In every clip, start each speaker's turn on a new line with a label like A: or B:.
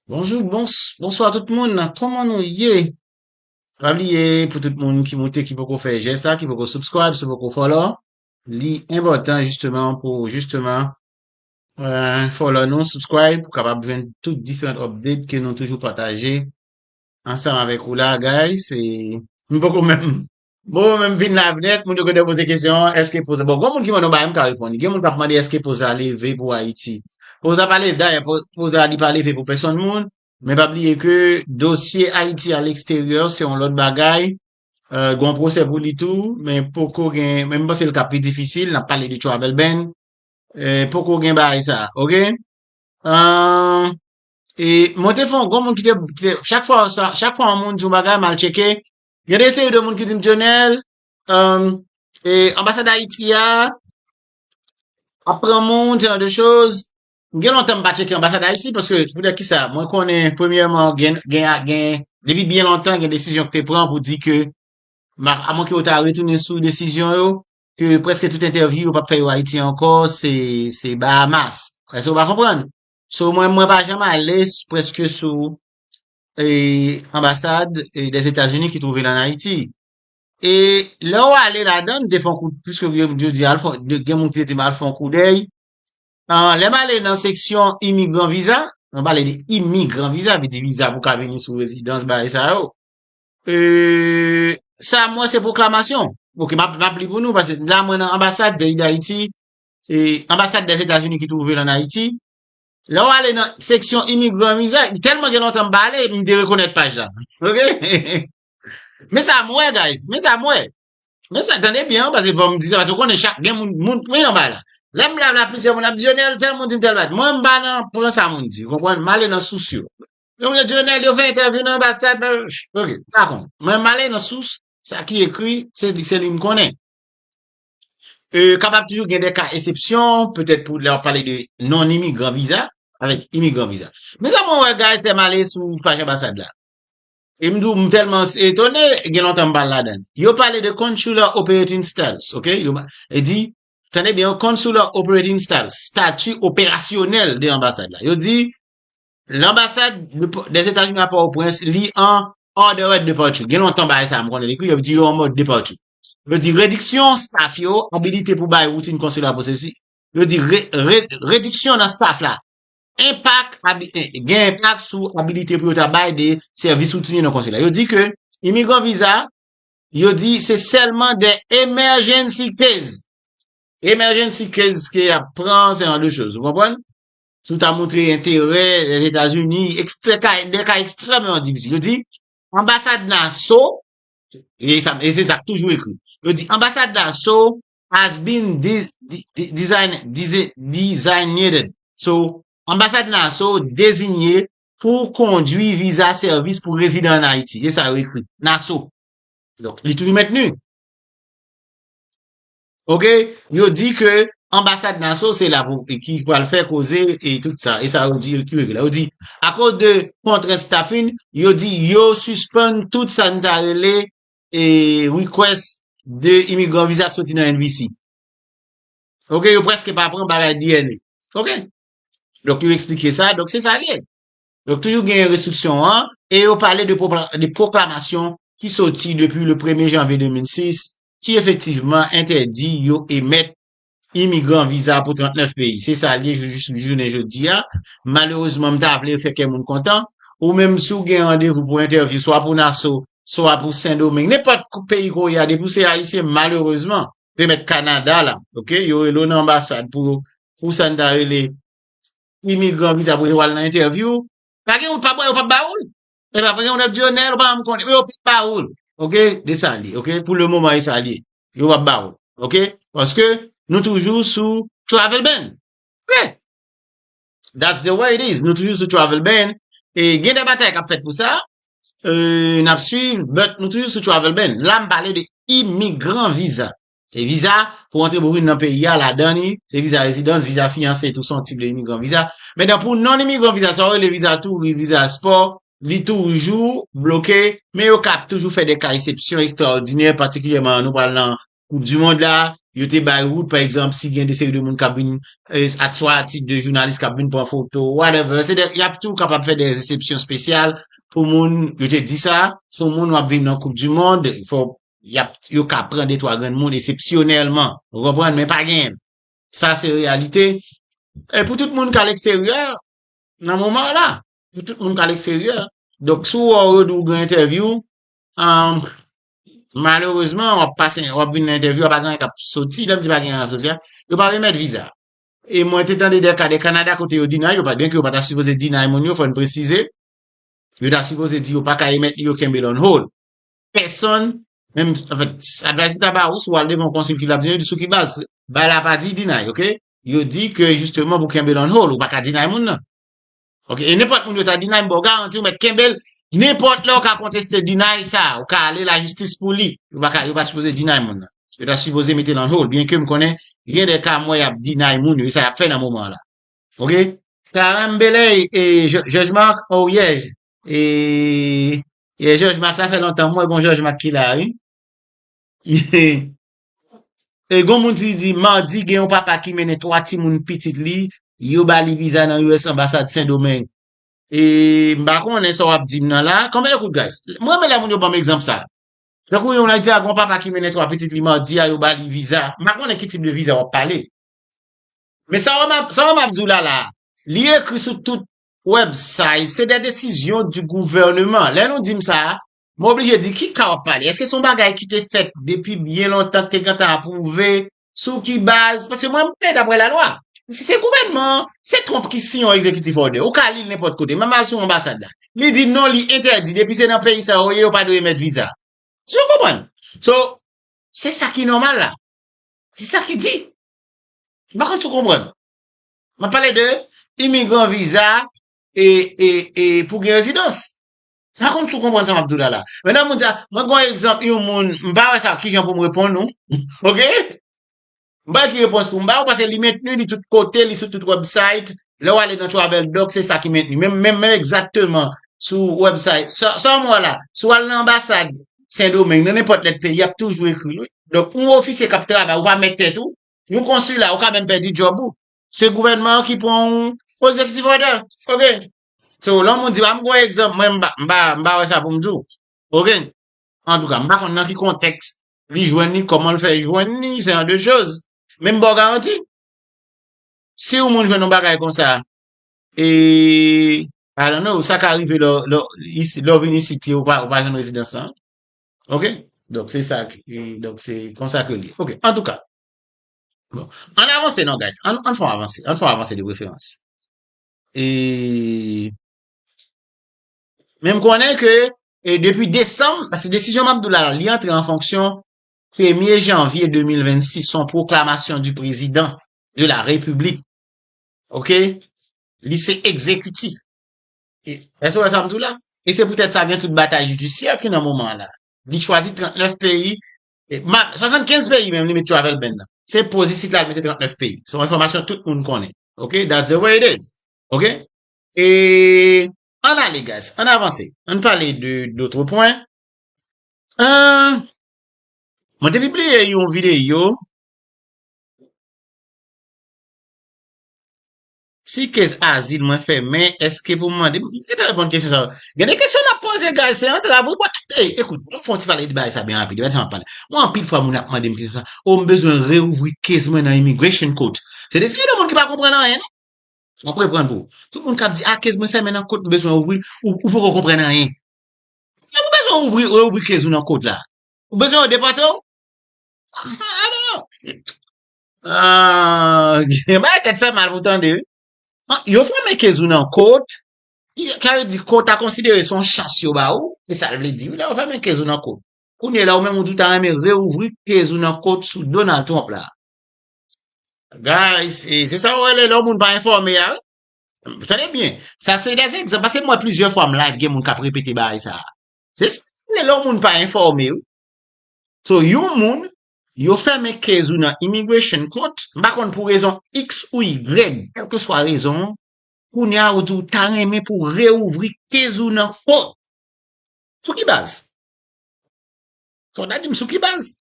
A: Bonjou bons bonswa tout moun nan koman nou ye pa bliye pou tout moun ki moute ki poko fè jès la ki poko subscribe se poko follow li enpòtan jisteman pou jisteman euh, follow nou subscribe pou kapab jwenn tout diferent update ke nou toujou pataje ansanm avèk ou la guys e m poko menm Bon men m vin live net, moun yo konn depoze kesyon an, eske poza, bon gon moun ki mandan bagay m ka reponn li, gen moun kap mande eske poza leve pou Ayiti. Poza pa leve, dayè po- poza li pa leve pou pèsonn moun, men pa bliye ke dosye Ayiti a leksteryè se yon lòt bagay, euh, gon pwosè pou li tou, men poko gen, men m panse l ka pi difisil, nap pale de travel ban, euh, poko gen bagay sa, ok? Euh, e mwen te fon, gon moun ki te, ki te- chak fwa sa, chak fwa yon moun di yon bagay mal cheke, Gen de seri de moun ki di m Dionel, anbasad Ayiti a ap pran moun, se jan de choz. M gen lontan m pa tcheke anbasad Ayiti, paske pou de ki sa, mwen konnen premyèman gen, depi byen lontan gen desizyon ki te pran pou di ke, a mwen ke yo ta retounen sou desizyon yo, ke preske tout entèvyou yo pa p fè yo Ayiti ankò, se Bahamas. Èske ou pa konprann? So mwen, mwen pa janm ale preske sou e anbasad des Etats Unis ki trouve l an Ayiti. E lè ou ale ladan m te fon kou pwiske yo m jodi al fon gen moun ki te di m al fon kou dèy. An lè m ale nan seksyon imigran viza, m pale de imigran viza vle di viza pou ka vini sou rezidans bagay sa yo. E sa m wè se pwoklamasyon. Ok map map li pou nou pase la mwen nan anbasad peyi d'Ayiti e anbasad des Etats Unis ki trouve l an Ayiti. Lè w ale nan seksyon imigran viza, tèlman gen lontan m pa ale, m derekonèt paj la. Ok? Men sa m wè guys, men sa m wè. Men sa, tande byen an, paske fò m di sa, paske w konnen chak gen moun, moun pwen anba la. Lè m blabla plizyè moun ap di, Dionel, tèl moun di m tèl bagay. Mwen m pa nan pran sa moun di, konprann? M ale nan sous yo. Yo mwen di, Dionel, yo fè entèvyou nan anbasad, bla bla bla. Ok, pa konn. Mwen m ale nan sous, sa ki ekri, se li m konnen. Kapab toujou gen de ka esepsyon, petèt pou lè w ap pale de non-imigran viza, avèk imigran viza. Men sa mwen wè guys, lè m ale sou paj anbasad la, e m di w m tèlman etone, gen lontan m pa al ladan. Yo pale de consular operating status, ok, yo di, tande byen, consular operating status, stati operasyonèl de anbasad la. Yo di, Lanbasad des Etazini a Pòtoprens li an order of departure. Gen lontan bagay sa a m konnen li kou yo di yo an mode departure. Yo di rediksyon staff yo, abilite pou bay woutin konsila pou sesi, yo di rediksyon nan staff la enpak gen enpak sou abilite pou yo ta bay de sèvis woutiniye nan konsila. Yo di ke imigran viza yo di se sèlman de emergency case. Emergency case ke y ap pran se an de choz. Ou konprann? Si w ta montre enterè Lèzetazini, ekstrè ka, dè ka ekstrèmeman difisil. Yo di, anbasad Naso, e sa, e se sa k toujou ekri. Yo di, anbasad Naso has been design, dize, designated. So, anbasad Naso dezinye pou kondwi viza sèvis pou rezidan an Ayiti. E sa yo ekri. Naso. Donk, li toujou mentni. Ok, yo di ke anbasad Naso se la pou ki pral fè koze e tout sa, e sa yo di yo ki rele la, yo di akoz de kontrent staffing, yo di yo sispann tout sa n ta rele e request de imigran viza k soti nan NVC. Ok, yo preske pa pran bagay DNA. Ok, donk yo eksplike sa, donk se sa l ye. Donk toujou gen restriksyon an, e yo pale de pwoklamasyon ki soti depi le premye janvye 2006, ki efektivman entèdi yo emèt imigran viza pou 39 peyi. Se sa l ye jou jis jounen jodi a. Malerezman, m ta vle fè kè moun kontan. Ou menm si w gen randevou pou entèvyou swa pou Naso, swa pou Sendomeng, nenpòt peyi ko ye a depi w se Ayisyen malerezman, te mèt Kanada la, ok, yo rele w nan anbasad pou pou sa n ta rele imigran viza pou yo al nan entèvyou, pa gen wout pa bwa yo p ap ba ou l. E pa gen yon lòt Dionel, ou pa menm konnen. Yo pap ba ou l. Ok, de sa li. Ok, pou le moman e sa li. Yo pap ba ou l. Ok, paske nou toujou sou travel ban. Ok, that's the way it is. Nou toujou sou travel ban. E gen de batay k ap fèt pou sa. E n ap swiv, but nou toujou sou travel ban. La m pale de imigran viza. Se viza pou antre bouboun nan peyi a, ladan li, se viza rezidans, viza fiyanse tou se yon tip de imigran viza. Mentan pou non imigran viza sa yo rele viza touris, viza spò, li toujou bloke, men yo kap toujou fè de ka esepsyon ekstraòdinè patikilyèman nou pral nan koup di mond la, yo te bay wout pa egzanp si gen de seri de moun kap vin ak swa a tit de jounalis kap vin pran foto whatever, se de yap tou kapab fè de esepsyon spesyal pou moun, yo te di sa, sou moun wap vin nan koup di mond, fò yap yo ka pran de twa grenn moun esepsyonèlman ou konprann men pa gen sa se reyalite e pou tout moun k al eksteryè nan moman w la pou tout moun k al eksteryè donk si w wè yo di w gen entèvyou an malerezman wap pase wap vin nan entèvyou a pa gen anyen k ap soti lè m di pa gen anyen k ap soti a yo pa remèt viza e mwen te tande de ka de Kanada kote yo deny yo byenke yo pa ta sipoze deny moun yo fò n presize yo ta sipoze di yo pa ka remèt li yo kenbe l on hold pèsòn, menm, anfèt, advayzè ta ba ou si w al devan yon konsil ki lap di, yo di sou ki baz, bay la pa di deny, ok, yo di ke jisteman pou kenbe l on hold, ou pa ka deny moun nan, ok, e nenpòt moun yo ta deny m ba w garanti ou mèt kenbe l, nenpòt lè ou ka konteste deny sa, ou ka ale lajistis pou li, yo pa ka, yo pa sipoze deny moun nan, yo ta sipoze mete l on hold, byenke m konnen gen de ka m wè yap deny moun yo, e sa yap fè nan moman an la, ok. Carembelay e Judge Marc, oh yeah, E, e Jòj Mak sa fè lontan m wè gon Jòj Mak ki la wi. E gon moun ti di Mardi gen yon papa ki mennen 3 timoun pitit li, yo ba li viza nan US anbasad Sendomeng. E m pa konnen sa w ap di m nan la. Konbyen kout guys? M renmen lè moun yo ban m egzanp sa. Tankou yon moun ap di a gon papa ki mennen 3 pitit li Mardi a yo ba li viza. M pa konnen ki tip de viza w ap pale. Men sa w wè m ap, sa w wè m ap di w la la a, li ekri sou tout website, se de desizyon di gouvernement. Lè nou dim sa, mwen oblije di ki ka wap pale? Eske son bagay ki te fèt depi byen lontan ki te gentan apwouve? Sou ki baz? Paske mwen mwen dapre la lwa. Si se gouvènman, se Trump ki siyen yon executive order. Ou ka li l nenpòt kote, menm al sou anbasad la. Li di non li entèdi depi se nan peyi sa yo ye yo pa dwe emèt viza. Eske w konprann? So, se sa ki nòmal la. Se sa ki di. M pa konn si w konprann. M ap pale de imigran viza e pou gen rezidans. M pa konn si w konprann sa m ap di w la la. Men nan moun sa, mwen pran egzanp yon moun, m pa wè sa ki jan pou m reponn ou. Ok? M pa wè ki repons pou m ba w paske li mentni, li tout kote, li sou tout wèbsayt. Lè w ale nan Travel Doc se sa ki mentni. Menm menm menm egzakteman sou wèbsayt. Sa w wè la, si w al nan anbasad Sendomeng, nan nenpòt lèt peyi y ap toujou ekri l wi. Donk yon ofisye k ap travay, ou pa mèt tèt ou, Yon konsila, ou ka menm pèdi djòb ou. Se gouvènman an ki pran w pou executive order. Ok. So, lè yon moun di w, a m gen yon egzanp, mwen m pa, m pa, m pa wè sa pou m di w. Ok. Antouka, m pa konn nan ki kontèks li jwenn li, kòman l fè jwenn li, se an de choz. Men m ba w garanti, si yon moun jwenn yon bagay konsa, e, I don't know, sa ka rive lè w, lè w, lè w vin isit, ou pa, ou pa jwenn rezidans lan. Ok, donk se sa ki, donk se konsa ke li. Ok, an tou ka. Bon, an avanse non guys, an fè yon avanse, an fè yon avanse de preferans. E, men m konnen ke, e depi desanm, se desizyon m ap dou la, li antre an fonksyon premye janvye 2026, son proklamasyon di prezidan de la republik. Ok, li se ekzekitif. Èske ou wè sa m di w la? E se poutèt sa gen tout batay jidisyè ki nan moman an la. Li chwazi 39 peyi, 75 peyi menm li met travel ban nan. Se poz isit la li mete 39 peyi. Se yon enfòmasyon tout moun konnen. Ok, that's the way it is. Ok? E ann ale guys, ann avanse. Ann pale de d'autres points. Ahh, mwen te pibliye yon videyo. Si kez azil mwen fèmen eske pou mande m gentan reponn kesyon sa yo. Gen de kesyon nap poze guys se antrav wi bwa kite ey ekout ann fon ti pale de bagay sa byen rapid gad sa map pale mwen anpil fwa moun ap mande m kesyon sa oh m bezwen reouvri kez mwen nan immigration court se de seri de moun ki pa konprann anyen non map reprann pou ou tout moun kap di ah kez mwen fèmen nan court m bezwen ouvril ou ou poko konprann anyen lè ou bezwen ouvri reouvri kez ou nan court la ou bezwen yo depòte w ah ah I don't know Ah, gen bagay tèt fè mal pou tande wi. Ah, yo fòme kezou nan kot. Y- Ka yo di kot a konsidere son chans yo ba ou. E sa l vle di wi lè yo fòme kezou nan kot. Kounye la ou menm ou di ou ta renmen reouvri kezou nan kot sou Donald Trump la. Guys, e, se sa ou rele lè ou moun pa enfòme a wi. Tande byen, sa se des egzanp paske m wè plizyè fwa m live gen moun kap repete bagay sa. Se sa ou rele lè ou moun pa enfòme wi. So yon moun Yo fèmen case ou nan immigration court, m pa konn pou rezon X ou Y, kèlkeswa rezon an, kounye a ou di ou ta renmen pou reouvri case ou nan court. Sou ki baz? Sa w ta di m sou ki baz?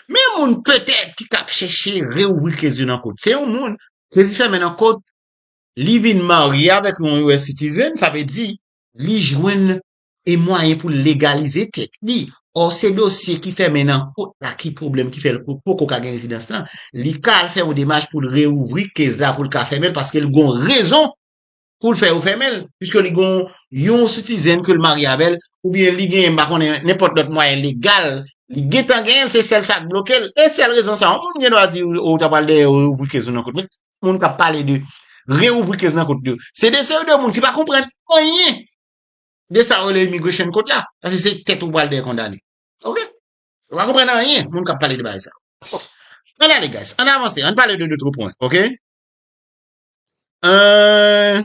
A: Men yon moun petèt ki ka ap chèche reouvri case li nan court. Se yon moun, case li fèmen nan court, li vin marye avèk yon US citizen, sa vle di li jwenn e mwayen pou l legalize tèt li. Ò se dosye ki fèmen nan kot la ki pwoblèm ki fè l poko ka gen rezidans lan, li ka al fè yon demach pou l reouvri kez la pou l ka fèmen l paske l gon rezon pou l fè yo fèmen l piske li gon yon sitizen ke l marye avè l oubyen li gen m pa konnen nenpòt lòt mwayen legal li gentan genyen l se sèl sa k bloke l e sèl rezon sa yon moun gen dwa di ou ta pral dèyè reouvri kez ou nan kot men tout moun k ap pale de reouvri kez nan kot yo se de seri de moun ki pa konprann anyen De sa yo rele immigration court la. Paske se tèt ou pral dèyè kondane. Ok. Yo pa konprann anyen moun kap pale de bagay sa yo. An ale guys. An avanse. Ann pale de dotre pwen. Ok. Eehh.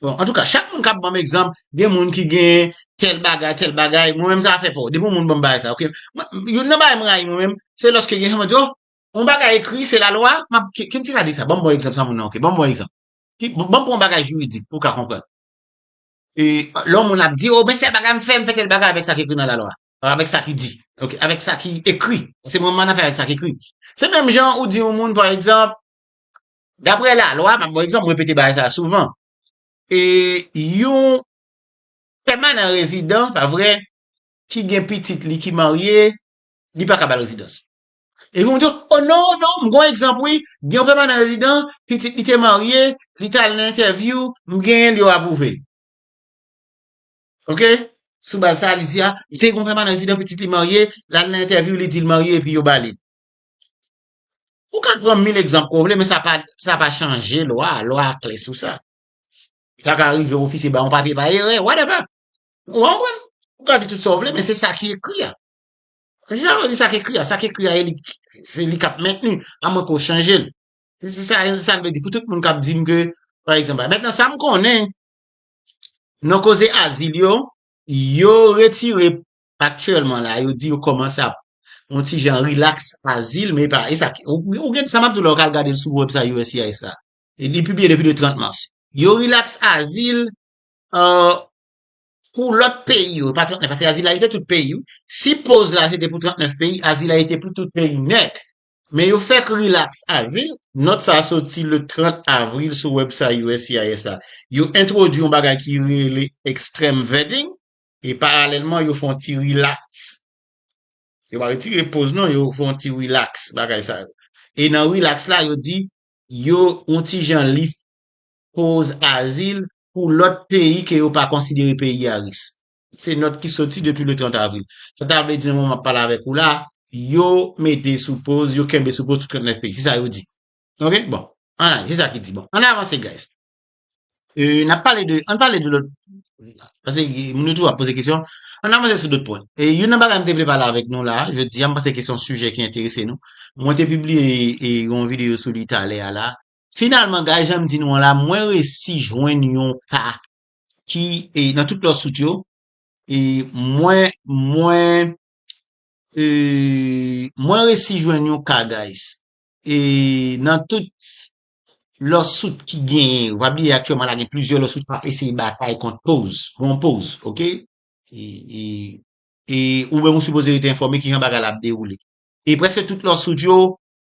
A: Bon an tou ka chak moun kap banm egzanp gen moun ki gen tel bagay tel bagay mwen menm sa pa fè pou. Depi yon moun banm bagay sa ok. Youn nan bagay mwen rayi mwen menm se lòske gen yon moun di oh yon bagay ekri se la lwa map. Kèm ti gade sa banm bon egzanp sa moun nan ok. Banm bon egzanp. Banm pran bagay jiridik pou ka konprann. Lè yon moun ap di, oh, men sèl bagay m fè, m fè tèl bagay avèk sa ki ekri nan lalwa. Avèk sa ki di. Ok, avèk sa ki ekri. Se mwen m annafè avèk sa ki ekri. Se menm jan ou di yon moun, pa egzanp, daprè lalwa, m ap ban egzanp, m repete bagay sa a souvan, e yon pèmanan rezidan, pa vre, ki gen pitit li ki marye, li pa ka ba l rezidans. Epi moun di yo, o non, non, m gen yon egzanp wi, gen yon pèmanan rezidan, pitit li te marye, li t al nan entèvyou, m genyen l, yo apwouve l. Ok, sou baz sa a li di a, te gen yon pèmanan rezidan, pitit li marye, l al nan entèvyou, li di l marye epi yo ba li. Ou ka pran mil egzanp ke w vle men sa pa, sa pa chanje lwa a, lwa a klè sou sa. Sa ka rive ofisye ba w yon papye pa erè, whatever. Ou konprann? Ou ka di tout sa w vle men se sa ki ekri a. Men se sa yo di sa k ekri a, sa k ekri a e li se li k ap mentni a mwen ko chanje l. Se sa e se sa l vle di pou tout moun k ap di m ke pa egzanp a. Mentnan sa m konnen nan koze azil yo, yo retire aktyèlman la yo di yo kòmanse ap yon ti jan rilaks azil men epa e sa k ou gen sa m ap di w la ou ka al gade l sou website uscis la. Li pibliye depi le 30 mas. Yo rilaks azil an. Pou lòt peyi yo, pa 39, paske Azila yo te tout peyi wi. Si poz la se te pou 39 peyi, Azila yo te pou tout peyi nèt. Men yo fèk rilaks Azil. Nòt sa a soti le 30 avril sou wèbsay uscis la. Yo entwodui yon bagay ki rele extreme vetting e paralèlman yo fè yon ti rilaks. Yo pa retire poz non, yo fè yon ti rilaks bagay sa yo. E nan rilaks la yo di yo yon ti jan lift koz azil pou lòt peyi ke yo pa konsidere peyi a ris. Se nòt ki soti depi le 30 avril. Sa ta vle di nan moman map pale avèk ou la, yo mete sou poz, yo kenbe sou poz tout 39 peyi. Se sa yo di. Ok, bon. An ale, se sa ki di. Bon, an avanse guys. Euh, nap pale de, an pale de lòt, pase moun yo toujou ap poze kesyon, an avanse sou dòt pwen. E youn nan bagay m te vle pale avèk nou la, jodi a, m panse ke se yon sijè ki enterese nou. Mwen te pibliye yon videyo sou li talè a la, Finalman guys janm di nou an la mwen resi jwenn yon ka ki e nan tout lòt sout yo e mwen mwen e mwen resi jwenn yon ka guys e nan tout lòt sout ki genyen yo pa bliye aktyèlman la gen plizyè lòt sout kap eseye batay kont poz bon poz ok e e e ou menm ou sipoze rete enfòme kijan bagay la ap dewoule e prèske tout lòt sout yo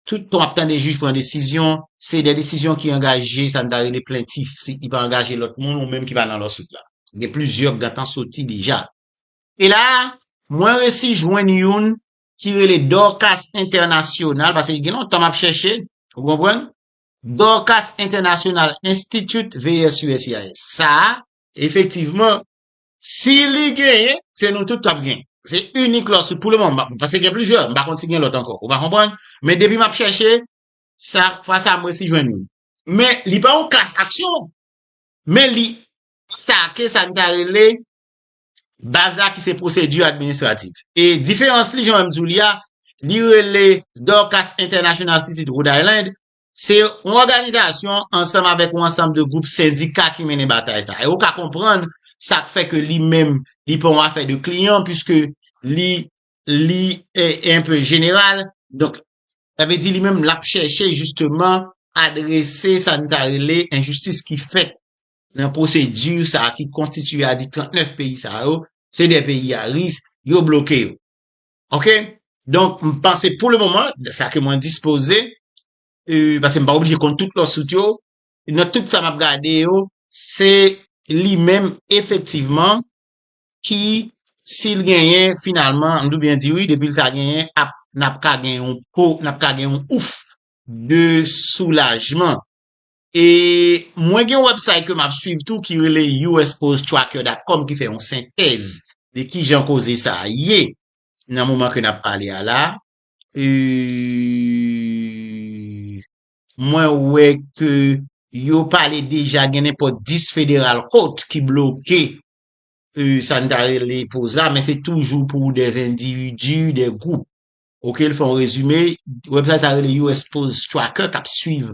A: Tout tan w ap tande jij pran desizyon, se de desizyon ki angaje sa n ta rele plentif, si ki pa angaje lòt moun ou menm ki pa nan lòsut la. Gen plizyè gantan soti deja. E la a, mwen resi jwenn youn ki rele Dorcas International, pase gen lontan m ap chèche, ou konprann, Dorcas International Institute, vs. USCIS. Sa a, efektivman, Si li genyen, se nou tout kap gen. Se inik lòs pou le mòman, pase gen plizyè, m pa konn si gen lòt ankò, ou pa konprann? Men depi map chèche, sa, fwa sa m resi jwenn youn. Men li pa yon klas aksyon, men li atake sa n ta rele baz la ki se pwosedi administratif. E diferans li, jan m di w li a, li rele Dorcas International City Rhode Island, Se yon òganizasyon ansanm avèk yon ansanm de gwoup sendika ki mennen batay sa. E ou ka konprann sa k fè ke li menm li pa yon afè de kliyan puiske li li un peu jeneral. Donk, sa vle di li menm l ap chèche jisteman adrese sa n ta rele enjistis ki fèt nan pwosedi sa ki konstitiye a di 39 peyi sa yo, se 2 peyi a ris, yo bloke yo. Ok, donk m panse pou le moman, sa ke mwen dispoze, e, pase m pa oblije konn tout lòt sout yo, nan tout sa m ap gade yo, se li menm efektivman ki si l genyen finalman, m dwe byen di wi, depi l ta genyen ap, n ap ka gen yon po, n ap ka gen yon ouf de soulajman. E mwen gen yon website ke map swiv tou ki rele usposttracker.com ki fè yon sentèz de kijan koze sa a ye nan moman ke nap pale a la. E mwen wè ke yo pale deja gen nenpòt 10 federal court ki bloke e sa n ta rele poz la men se toujou pou de endividu, de gwoup. Ok, l fè yon rezime, website sa rele usposttracker kap swiv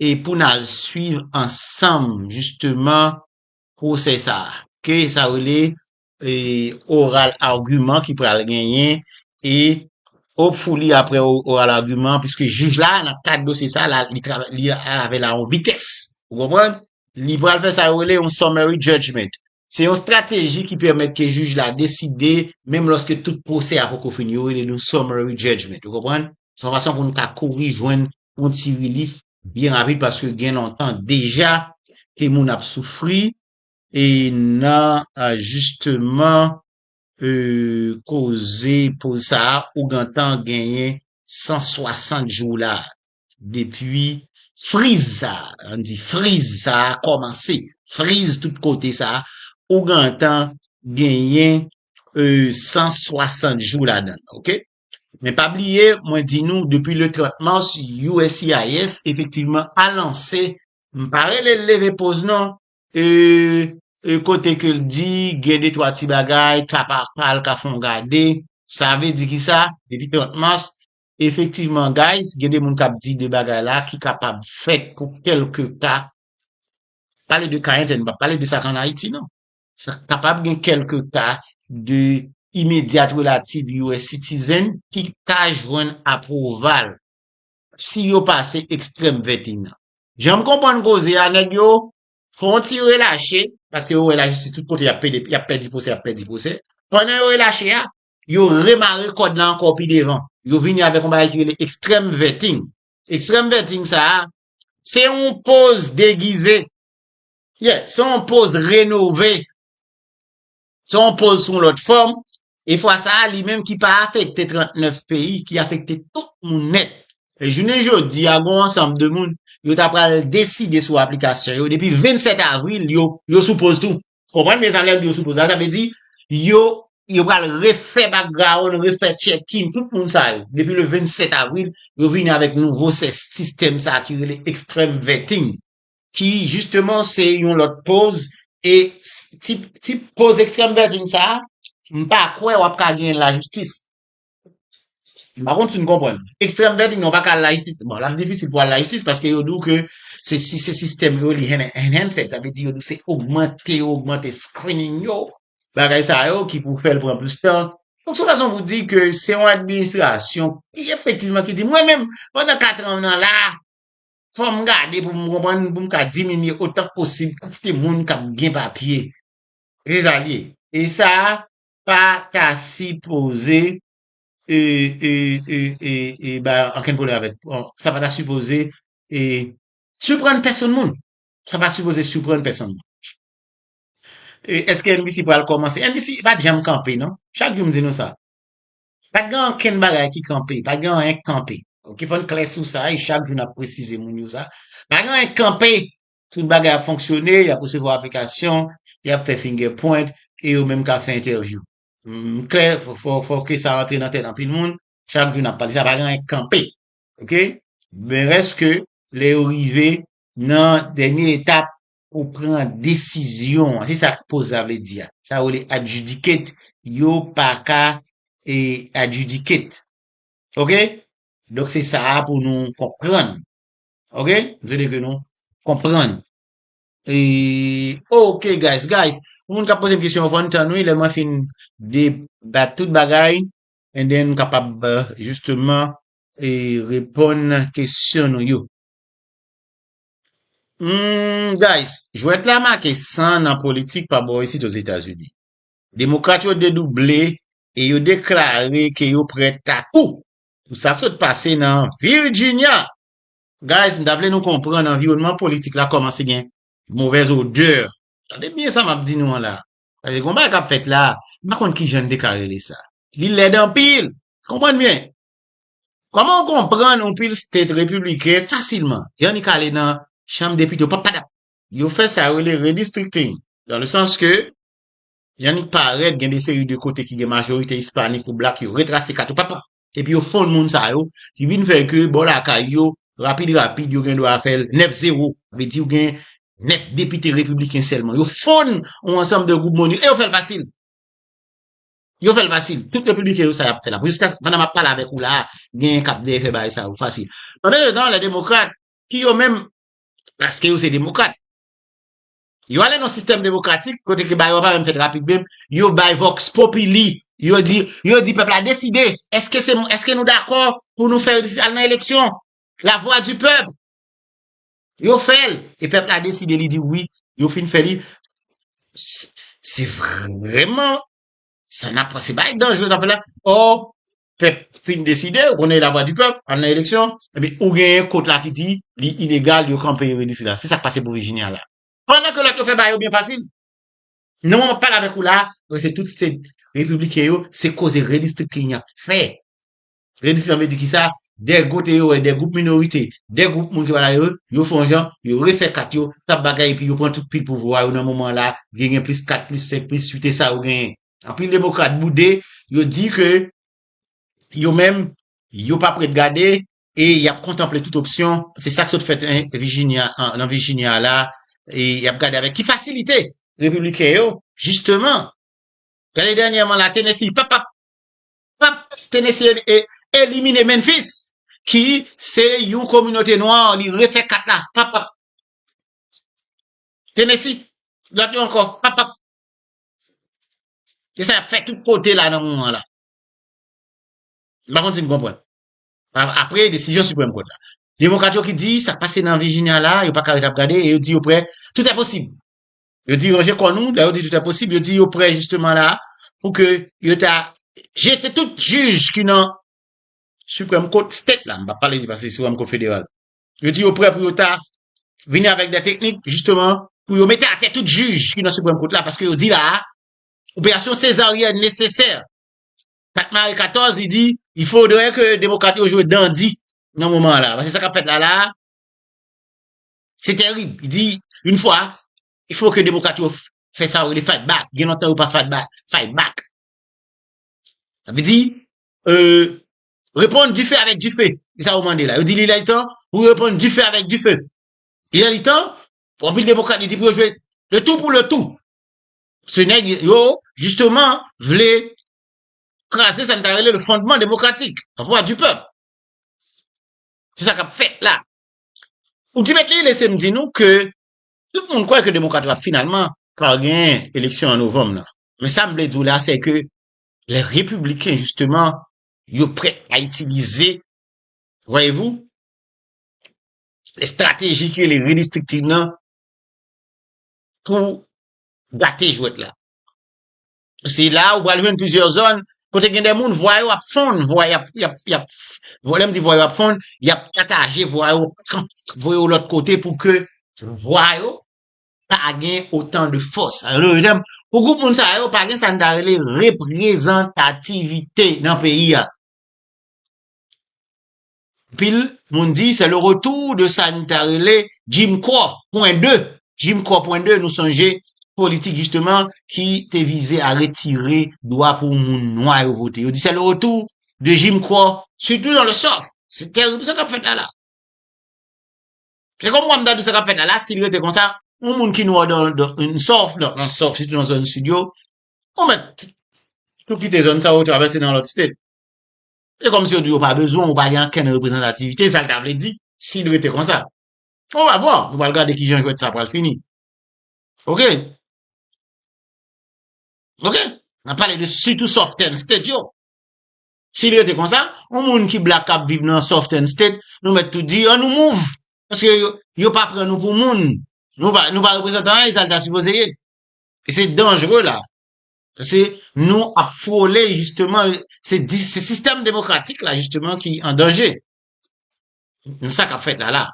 A: e pou n al swiv ansanm jisteman pwosè sa a, ke sa rele oral agiman ki pral genyen e hopefully apre oral agiman piske jij la nan kad dosye sa a li travay avè l a yon vitès ou konprann, li pral fè sa yo rele yon summary judgement se yon strateji ki pèmèt ke jij la deside menm lòske tout pwosè a poko fini yo rele l yon summary judgement ou konprann se yon fason pou n ka kouri jwenn yon ti rilif byen rapid paske gen lontan deja ke moun ap soufri e nan jisteman koze poz sa a ou gentan genyen 160 jou la depi friz sa a, an di friz sa a kòmanse, friz tout kote sa a ou gentan genyen 160 jou ladan l ok. Men pa bliye, mwen di nou, depi le 30 mars, USCIS efektivman a lanse, m pa rele l leve poz non, e, e kote ke l di gen de twa ti bagay, ka pa pa l ka fè yon gade, sa vle di ki sa, depi 30 mars, efektivman guys, gen de moun k ap di de bagay la ki kapab fèt pou kèlke ka, pale de Cayen, m pa pale de sa k an Ayiti non. Sa kapab gen kèlke ka de Immediate Relative US Citizen ki ka jwenn apwoval si yo pase ekstrèm 21 an. Jan m konprann koze a, nèg yo fè yon ti relache, paske yo wè lajistis tout kote y ap pede, y ap pèdi pwosè, y ap pèdi pwosè. Pandan yo relache a, yo remare kòd la ankò pi devan. Yo vini avèk yon bagay ki rele ekstrèm vetting. Ekstrèm vetting sa a, se yon poz degize Yeah, se yon poz renove, se yon poz sou yon lòt fòm, e fwa sa a li menm ki pa afekte 39 peyi, ki afekte tout moun nèt. E jounen jodi a gon ansanm de moun, yo ta pral deside sou aplikasyon yo depi 27 avril yo, yo sou poz tou. Konprann byen sa m lè m di yo sou poz la, sa vle di yo, yo pral refè bakgrawonn, refè tchèkin tout moun sa yo. Depi le 27 avril, yo vini avèk nouvo sè sistèm sa a ki rele extreme vetting. ki jisteman se yon lòt poz e tip poz ekstrèm vèjin sa a m pa kwè w ap ka genyen lajistis. M pa konn si nou konprann. Ekstrèm vèjin nan w pa ka al lajistis. Bon, l ap difisil pou w al lajistis paske yo di w ke se si se sistèm yo li enhanced, sa vle di yo di w se ogmante yo ogmante screening yo, bagay sa yo ki pou fè l pran plis tan. Donk se yon fason pou di ke se yon administrasyon ki efektivman ki di mwen menm pandan katran m nan la a, Fò m gade pou m konprann pou m ka diminye otan k posib kantite moun k ap gen papye. Se sa l ye. E sa pa ta sipoze bay okenn pwoblèm avèk. Sa pa ta sipoze siprann pèsonn moun. Sa pa sipoze siprann pèsonn moun. Eske MBC pral kòmanse? MBC pa t janm kanpe non. Chak jou m di nou sa. Pa gen ankenn bagay ki kanpe, pa gen anyen k kanpe. Ok, fò n klè sou sa e chak jou n ap presize moun yo sa. Pa gen anyen k kanpe, tout bagay ap fonksyone, y ap resevwa aplikasyon, y ap fè finger point e yo menm ka fè entèvyou. M klè, fò ke sa rantre nan tèt anpil moun, chak jou n ap pale sa, pa gen anyen k kanpe. Ok, men rès ke lè yo rive nan dènye etap pou pran desizyon an. Se sa akpoza vle di a. Sa yo rele adjudicate, yo pa ka e adjudicate. Ok? Donk se sa a pou nou konprann. Ok? M swete ke nou konprann. E, ok guys, guys, pou moun k ap poze m kesyon yo fò n tann wi lè mwen fin debat tout bagay and then m kapab jisteman e reponn kesyon nou yo. Humm guys, jwèt la make san nan politik pa bò isit Ozetazini. Demokrat yo dedouble e yo deklare ke yo prè tatou pou sa k sot pase nan Virginia. Guys, m ta vle nou konprann anviwònman politik la kòmanse gen movèz odè. Tande byen sa m ap di nou an la. Paske gon bagay k ap fèt la, m pa konn kijan n te ka rele sa. Li lèd anpil! Konprann byen. Kòman ou konprann yon pil state repibliken fasilman y annik ale nan chanm depite yo pa pa dap yo fè sa yo rele redistricting dan le sans ke y annik parèt gen de seri de kote ki gen majorite ispanik ou blak yo retrase kat yo pa pa epi yo fonn moun sa yo ki vin fè ke bò lakay yo rapid rapid yo gen dwa fè l 9 zewo vle di ou gen 9 depite repibliken sèlman yo fonn yon ansanm de gwoup moun yo e yo fè l fasil. Yo fèl fasil, tout repibliken yo sa yap fè la, jiska pandan map pale avèk ou la, genyen kap dèyè fè bagay sa yo fasil. Pandan se tan lè demokrat ki yo menm paske yo se demokrat, yo ale nan sistèm demokratik kote ke bagay yo pa menm fèt rapid menm, yo bay vox populi, yo di, yo di pèp la deside, eske se, eske nou dakò pou nou fè, al nan eleksyon, la vwa di pèp. Yo fèl e pèp la deside li di wi yo fin fè li se vrèman sa nap se bagay danjre sa fè la or pèp fin deside ou konnen la vwa di pèp al nan eleksyon epi ou gen yon kot la ki di li ilegal yo kanpe yo redi sila se sak pase pou Virginia la pandan ke lòt yo fè bagay yo byen fasil nan moman map pale avèk ou la se tout se repibliken yo se koze redistrikte yap fè Rediksyon an vle di ki sa? De gote yo wè de gwoup minorite, de gwoup moun ki pa la yo, yo fè yon jan, yo refè kat yo, sa bagay epi yo pran tout pil pouvwa yo nan moman an la a, gen gen plis 4, plis 5, plis 8 e sa yo genyen. Anpil demokrat boude, yo di ke yo menm yo pap ret gade e y ap kontanple tout opsyon, se sa k sot fèt en Vijinya an, nan Vijinya a la a, e y ap gade avèk ki fasilite Repibliken yo jisteman, gade dènyèman la Tennessee, pap pap! Pap Tennessee elimine Memphis ki se yon kominote nwa li refè kat la papap Tennessee gad yon ankò papap se sa yap fè tout kote la nan moman la m pa konn si n konprann apre desizyon Supreme Court la demokrat yo ki di sak pase nan Virginia la yo paka ret ap gade e yo di yo prè tout è posib. Yo di ranje kò nou, lè yo di tout è posib, yo di yo prè jisteman la pou ke yo ta jete tout jij ki nan Supreme Court State la, m pa pale di pase Supreme Court Federal. Yo di yo prè pou yo ta vini avèk de teknik jisteman pou yo mete atè tout jij ki nan Supreme Court la paske yo di la a, operasyon sezaryèn nesesè. Pat mare 14 li di, il faudrait que demokrat yo jwe dandi nan moman la. Paske sa kap fèt la la a, Se terib. Li di, yon fwa, il faut que demokrat yo fè sa yo rele fight back. Gen lontan yo pa fight back. Fight back. Sa vle di, euh, reponn du feu avec du feu. Se sa yo mande la. Yo di li lè li tan pou yo reponn du feu avec du feu. Li lè li tan, pou anpil demokrat yo di pou yo jwe le tout pour le tout. Se nèg yo, justement, vle kraze sa n ta rele le fondement démocratique, la voix du peuple. Se sa k ap fèt la. Pou di mèt li, lese m di nou ke tout moun kwè ke demokrat yo ap finalman pral genyen eleksyon an novanm nan. Men sa m vle di w la se ke lè repibliken jisteman yo prèt a itilize, vwayevou, estrateji ki rele redistriktiv nan pou gate jwèt la. Se la ou pral jwenn plizyè zòn kote gen de moun vwa yo ap fonn, vwa y ap, y ap, y ap, vwa lè m di vwa yo ap fonn, y ap pataje vwa yo, kan voye yo lòt kote pou ke vwa yo pa gen otan de fòs. Sa vle di, pou gwoup moun sa yo pa gen sa n ta rele reprezantativite nan peyi a. Anpil moun di se le retour de sa nou ta rele Jim Crow pwen 2. Jim Crow pwen 2 nou sonje politik jisteman ki te vize a retire dwa pou moun nwa yo vote. Yo di se le retour de Jim Crow sitou nan le sof. Se terib sa k ap fèt la la. Se kòm kwa m ta di sa k ap fèt la la si l rete konsa yon moun ki nwa nan yon sof, nan sof sitou nan zòn sid yo ou mèt tou kite zòn sa ou travèse nan lòt state. Se kòmsi yo di yo pa bezwen w, ou pa gen ankenn reprezantativite, sa l ta vle di si l rete konsa. On va voir, nou pral gade kijan jwèt sa pral fini. Ok. Ok. N ap pale de sitou soften state yo. Si l rete konsa, on moun ki blak k ap viv nan soften state, nou mèt tou di an nou mouv. Paske yo pa pran nou pou moun. Nou pa reprezantan anyen sa l ta sipoze ye. E se danjre la. Pase nou ap frole jisteman, se sistèm demokratik la jisteman ki an danje. N sa k ap fèt la la.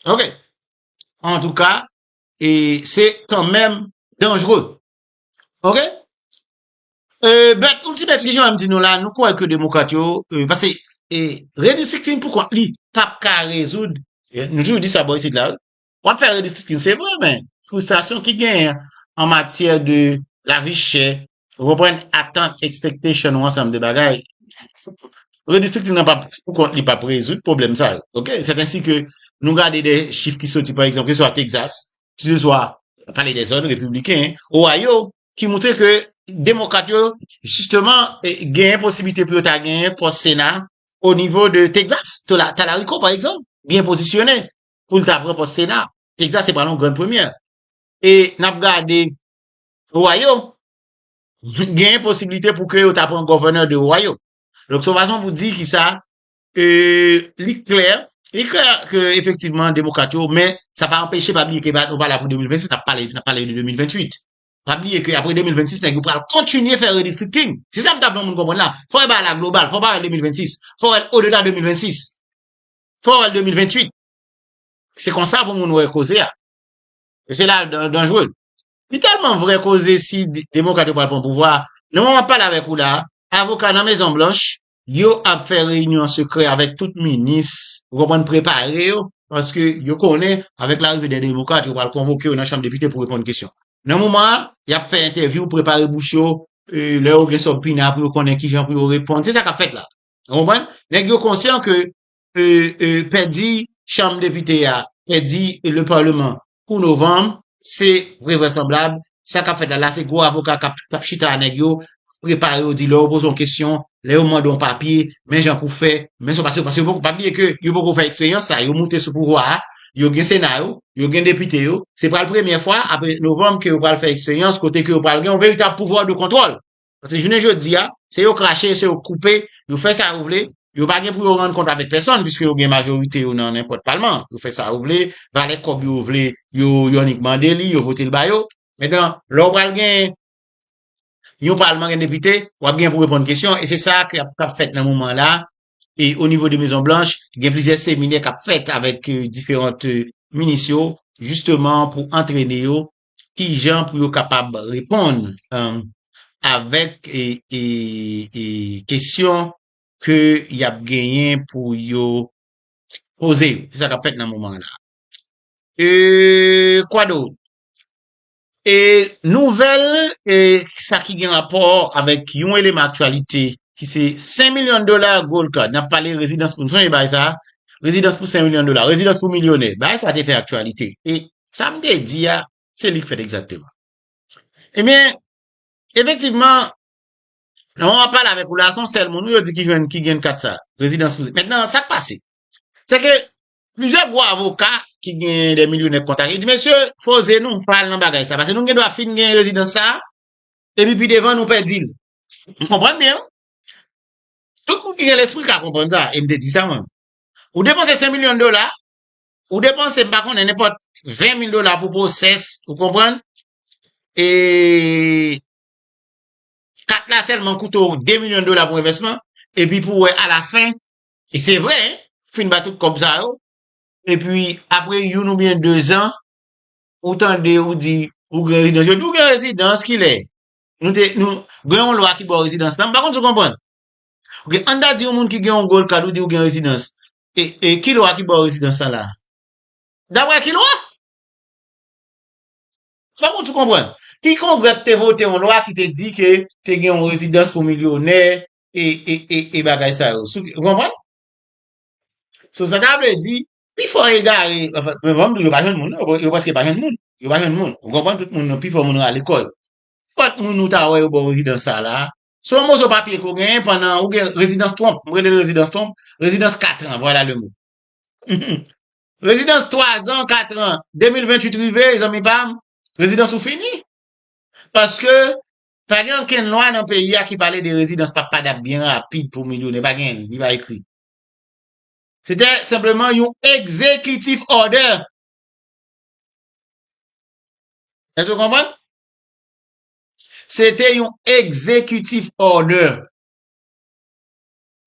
A: Ok. An tou ka, e se kan menm danjre. Ok. E bèt, ou ti bèt li jan an di nou la, nou kouwè ke demokrat yo, e pase, e redistrikting pou kont li, pap ka rezoud, nou toujou di sa bò isit la, Wap fè redistricting se vre men frustrasyon ki genyen an an matyè de lavi chè ou konprann atant expectation ou ansanm de bagay redistricting nan pap pou kont li pap rezoud pwoblèm sa yo ok sèt ansi ke nou gade de chif ki soti pa egzanp ke se swa Texas ke se swa pale de zòn repibliken Ohio ki moutre ke demokrat yo jisteman genyen posiblite pou yo ta genyen pòs sena o nivo de Texas, Talariko pa egzanp byen pozisyone pou l ta pran pòs Sena. Texas se pral yon grann premyè. E n ap gade Ohio, genyen posiblite pou ke yo ta pran governor de Ohio. Donk se yon fason pou di ki sa e li klè, li klè ke efektivman demokrat yo, men sa pa anpeche pa bliye ke nou pa la pou 2026, n ap pale, n ap pale de 2028. Pa bliye ke apre 2026 nèg yo pral kontinye fè redistricting. Se sa m ta vle moun konprann la. Fò e bagay la global, fò pa wè 2026, fò wè l odedan 2026. Fò wèl 2028. Se konsa pou moun wè koze a. E se la dan danjre. Li tèlman vre koze si demokrat yo pral pran pouvwa a, nan moman map pale avèk ou la a, avoka nan mezon blanch, yo ap fè reyinyon an sekrè avèk tout minis, ou konprann, prepare yo, paske yo konnen avèk larive de demokrat yo pral konvoke yo nan chanm depite pou reponn kesyon. Nan moman an, yap fè entèvyou, prepare bouch yo, e lè yo gen sòb pina pou yo konnen kijan pou yo reponn. Se sa kap fèt la. Ou konprann? Nèg yo konsyan ke pèdi chanm depite a, pèdi le parlement pou novanm, se vrèvrasanblab, sa kap fèt la la se gwo avoka kap chita a nèg yo, prepare yo di lè yo poze yon kesyon, lè yo mande yon papye, men jan pou fè, men sa w pa se, paske pa bliye ke yo poko fè eksperyans sa, yo moute sou pouvwa a, yo gen sena yo, yo gen depite yo, se pral premyè fwa apre novanm ke yo pral fè eksperyans kote ke yo pral gen yon veritab pouvwa de kontwòl. Paske jounen jodi a, se yo krache, se yo koupe, yo fè sa yo vle, yo pa gen pou yo rann kont avèk pèsòn, piske yo gen majorite yo nan nenpòt palman, yo fè sa yo vle, valè kòb yo vle, yo annik mande li, yo vote l ba yo. Metan, lè ou pral gen yon palman gen depite, w ap gen pou reponn kesyon, e se sa k ap fèt nan moman la, e o nivo de Mezon Blanch, gen plizyè seminè k ap fèt avèk diferant minis yo, jisteman pou antrene yo, ki jan pou yo kapab reponn avèk kesyon ke y ap genyen pou yo poze yo. Se sa k ap fèt nan moman la. E kwa do? E nouvèl e sa ki gen rapò avèk yon eleman aktyalite ki se 5 milyon dola gold card. N ap pale rezidans pou nou sonje bagay sa a, rezidans pou 5 milyon dola, rezidans pou milyonè. Bagay sa a te fè aktyalite. E Sa m te di a, se li k fèt egzakteman. Ebyen, efektivman, nan moman map pale avèk ou la, se yon sèl moun wi yo di ki jwenn, ki gen kat sa, rezidans pou zin. Mentnan, sa k pase? Se ke, plizyè gwo avoka ki gen dè milyonè kontak yo di, mesye, poze nou, pa al nan bagay sa, pase nou gen dwa fin gen rezidans sa, epi pi devan nou pèdi l. Nou konprann byen wi. Tout moun ki gen lespri ka konprann sa, e m te di sa mwen menm. Ou depanse 5 milyon dola, Ou depanse m pa konnen nenpòt 20 mil dola pou pwosès, ou konprann? E kat la sèlman koute w 2 milyon dola pou envèsman, epi pou wè alafen, e se vre, fin ba tout kòb sa yo, epi apre youn oubyen dezan, ou tande ou di ou gen rezidans. Yo di w gen rezidans kilè? Nou te, nou, gen yon lwa ki ba w rezidans la, m pa konn si w konprann. Ok, an n ta di yon moun ki gen yon gold card ou di ou gen rezidans, E ki lwa ki ba w rezidans lan la? Daprè ki lwa? Se pa pou tout konprann. Ki kongrè ki te vote yon lwa ki te di ke te gen yon rezidans pou milyonè e bagay sa yo? Ou konprann? So sa ta vle di, pifò egare, anfen, mwen van m di w yo pa jwenn moun non, yo prèske pa jwenn moun. Yo pa jwenn moun. Ou konprann? Tout moun, pifò moun rale kò yo. Kòt moun ou ta wè yo ba w rezidans sa la, Se yon moso papye ke w genyen pandan ou gen rezidans twonp. M rele l rezidans twonp, rezidans katran, vwala le mo. Rezidans twazan, katran, 2028 rive, zanmi pa m, rezidans ou fini. Paske, pa gen ankenn lwa nan peyi a ki pale de rezidans papadap byen rapid pou milyonè. Pa gen, li pa ekri. Se te senpleman yon ekzekitif òdè. Èske w konprann? Se te yon executive order.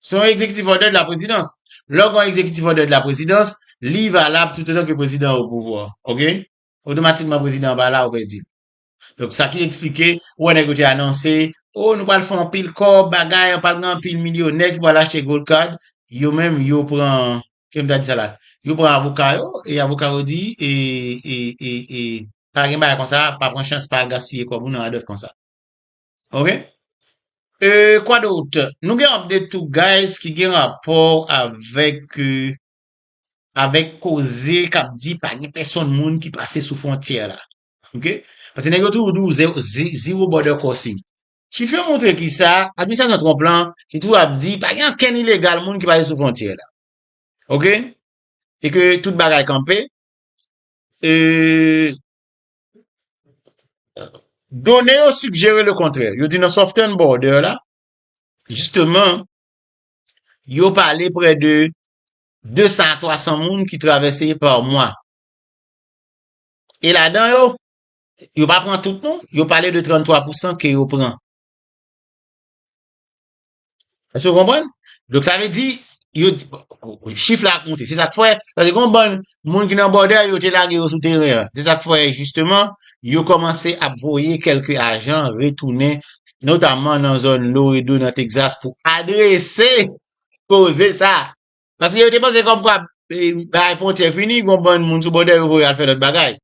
A: Se yon executive order de la prezidans. Lè w gen yon executive order de la prezidans, li valab toutotan ke prezidan an opouvwa. Ok? Otomatikman prezidan an pa la, ou pèdi l. Donk sa ki eksplike, ou wè nèg yo te anonse, Oh, nou pral fè anpil kòb, bagay, pral gen anpil milyonè ki pral achte Gold Card. Yo menm, yo pran Kèm ta di sa la. Yo pran avoka yo, e avoka yo di, e, e, e, e, pa gen bagay konsa, pa pran chans, pa al gaspiye kòb ou nan adòt konsa. Ok? E, kwa dout? Nou gen anp de tou guys ki gen rapò avèk, avèk koze kap di pa gen pèsonn moun ki pase sou fwontyè la. Ok? Pase nèg yo toujou di w zero border crossing. Chif yo montre kisa administrasyon Trump lan ki toujou ap di pa gen ankenn ilegal moun ki pase sou fwontyè la. Ok? E ke tout bagay kanpe. E done yo sugjere le kontrè. Yo di nan Southern Border la, jisteman, yo pale prè de 200 a 300 moun ki travèse pa mwa. E ladan yo, Yo pa pran tout non, yo pale de 33 pou san ke yo pran. Èske ou konprann? Donk sa vle di, yo di, chif la ap monte. Se sa k fè, paske gen yon bann moun ki nan bòdè yo te lage yo sou teren an. Se sa k fè jisteman, yo kòmanse ap voye kèlke ajan retounen, notamman nan zòn Loredo, nan Texas, pou adrese koze sa. Paske yo te panse kòmkwa, bagay fwontyè fini, gen yon bann moun sou bòdè yo voye al fè lòt bagay.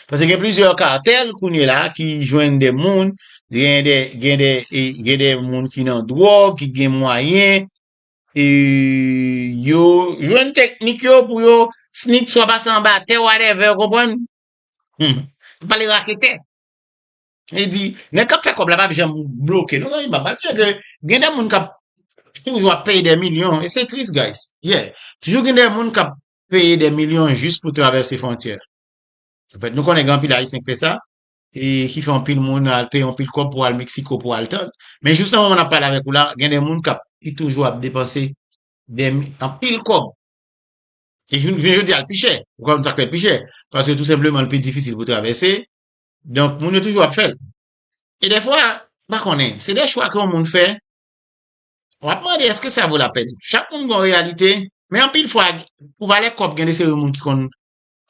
A: Pase gen plizyè katèl kounye la ki jwenn de moun, gen de, gen de, gen de moun ki nan dwòg, ki gen mwayen, e yo jwenn teknik yo pou yo snik swa pase anba tè wadèvè, ou konprann? Hum, m pale raketè. E di, nèg k ap fè kòb la pa p janm bloke non zanmi pa m, malgre ke gen de moun k ap toujou ap peye de milyon, e se tris guys, yeah, toujou gen de moun k ap peye dè milyon jis pou travèse fwontyè. Anfèt, nou konnen gen anpil Ayisyen k fè sa, e ki fè anpil moun al peye anpil kòb pou al Meksiko pou al tann. Men jous nan moman n ap pale avèk ou la, gen dè moun k ap, ki toujou ap depanse dè mi, anpil kòb. E jounen jodi a l pi chè. Ou konn sa k fè l pi chè? Paske tou senpleman l pi difisil pou travèse, donk moun yo toujou ap fè l. E dèfwa, m pa konnen, se dè chwa ke yon moun fè, Wap mande eske sa vo lapèn. Chak moun gon reyalite, men anpil fwa pou valè kòb gen de seri moun ki konn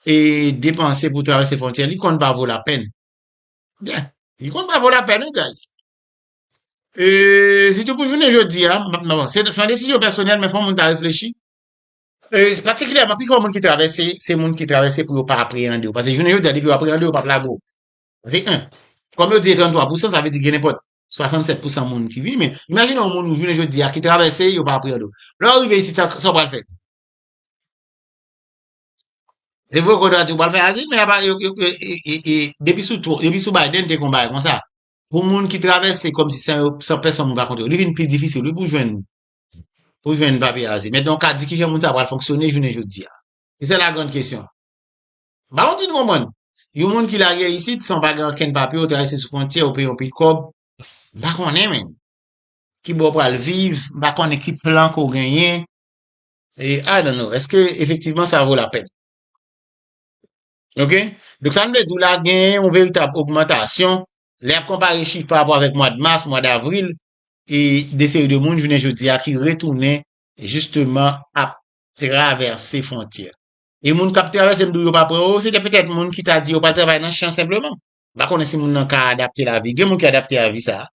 A: e depanse pou travèse fwontyè, li konn pa vo lapèn. Yeah, li konn pa vo lapèn wi guys. E sitou pou jounen jodi a, m ap nan bon, se yon desizyon pèsonèl men fò moun ta reflechi. E patikilyèman pi fò moun ki travèse, se moun ki travèse pou yo pa apreyande yo. Pase jounen jodi a depi yo apreyande yo, yo pap lage w. Se 1. Kòm yo di e 33 pousan, sa vle di gen nenpòt 67 pousan moun ki vini men imajine yon moun ou jounen jodi a ki travèse yo pa priyo do lò ou rive isi sa ou pral fè e vre kodo ati ou pral fè azi men apa yo yo depi sou tro depi sou Biden te kon bay kon sa pou moun ki travèse kom si san yo san pèson moun pa kontre yo li vin pi difisil wi pou jwenn pou jwenn papye azi men donk ka di ki jan moun sa pral fonksyone jounen jodi a se la grand kesyon Ba yon ti dron man! Yon moun ki lage isit san pa gen ankenn papye ou travèse sou fwontyè ou peye yon pil kòb, m pa konnen menn. Ki bò ou pral viv, m pa konnen ki plan ke w genyen. E I don't know, eske efektivman sa vo lapèn? Ok, donk sa m vle di w la genyen yon veritab ogmantasyon lè y ap konpare chif pa rapò avèk mwad mas, mwad avril e de seri de moun jounen jodi a ki retounen jisteman ap travèse fwontyè. E moun kap travay se m di w yo pa pran yo, se te petèt moun ki ta di yo pral travay nan chan senpleman. M pa konnen si moun nan ka adapte lavi. Gen moun ki adapte a vi sa a.